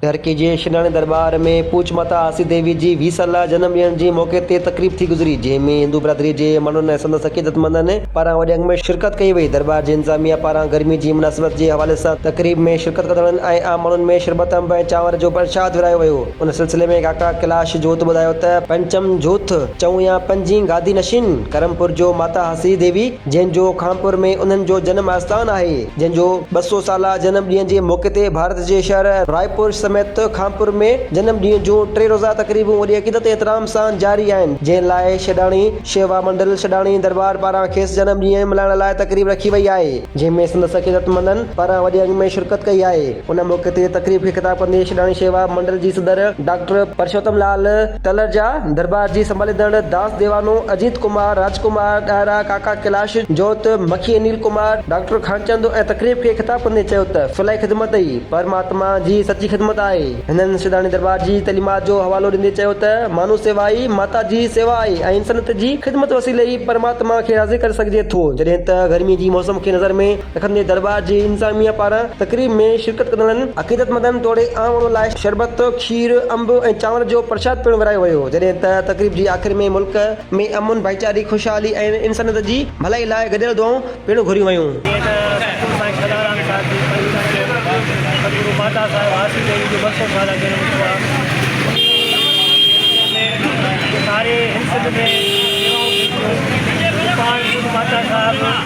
ڌرڪي جي شيناڻي درٻار ۾ پوچ ماتا آسي ديوي جي ويهه سالا جنم ڏيڻ جي موقعي تي تقريب ٿي گذري، جنهن ۾ هندو برادري جي ماڻهن ۽ سندس عقيدتمندن پاران وڏي انگ ۾ شرڪت ڪئي وئي. درٻار جي انتظاميا پاران گرمي جي مناسبت جي حوالي سان تقريب ۾ شرڪت ڪندڙن ۽ عام ماڻهن ۾ شربت انب ۽ چانور جو پرشاد ورهايو ويو. ان سلسلي ۾ ڪاڪا ڪيلاش جوت ٻڌايو ته پنچم جوت چئون يا پنجين گادي نشين ڪرم پور جو ماتا آسي ديوي جنهن جو خانپور ۾ انهن جو جنم آستان آهي، جنهن جو ٻه سؤ سالا جنم ڏينهن جي موقعي تي ڀارت جي شهر رائپور سميت خانپور ۾ جنم ڏينهن جون ٽي روزه تقريبون وڏي عقيدت ۽ احترام سان جاري آهن جنهن لاء شيڊاڻي شيوا منڊل شيڊاڻي درٻار پاران کيس جنم ڏينهن ملهائڻ لاء تقريب رکي وئي آهي جنهن ۾ سندس عقيدت مندن پاران وڏي انگ ۾ شرڪت ڪئي آهي ان موقعي تي تقريب کي خطاب ڪندي شيڊاڻي شيوا منڊل جي صدر ڊاڪٽر پرشوتم لال تلر جا درٻار جي سنڀاليندڙ داس ديوانو، اجيت ڪمار، راج ڪمار ڏاهرا، ڪاڪا ڪيلاش جوت، مکي انيل ڪمار، ڊاڪٽر خانچند ۽ تقريب کي خطاب ڪندي چيو ته فلاحي خدمت ئي پرماتما جي سچي خدمت آهي. هنن سيداڻي درٻار جي تعليمات جو حوالو ڏيندي چيو ته مانو سيوا ئي ماتا جي سيوا آهي ۽ انسانيت جي خدمت وسيلي ئي پرماتما کي راضي ڪري سگهجي ٿو. جڏهن ته گرمي جي موسم کي نظر ۾ رکندي درٻار جي انتظاميه پاران تقريب ۾ شرڪت ڪندڙن عقيدتمندن توڙي عام ماڻهن لاء شربت، کير، انب ۽ چانور جو پرشاد پڻ ورايو ويو جڏهن ته تقريب جي آخر ۾ ملڪ ۾ امن، ڀائيچاري، خوشحالي ۽ انسانيت جي ڀلائي لاء گڏيل دعائون پڻ گهريون ويون. جيئن ته سچل سائين کدارام صاحب جي پرينء چيو هو ته سدگرو ماتا صاحب هاسي ديوي جو ٻه سئو سالا جنم ٿيو آهي انهيء ۾ ساري هن سنڌ ۾ شيوائون ٿينديون آهن ۽ پاڻ خود ماتا صاحب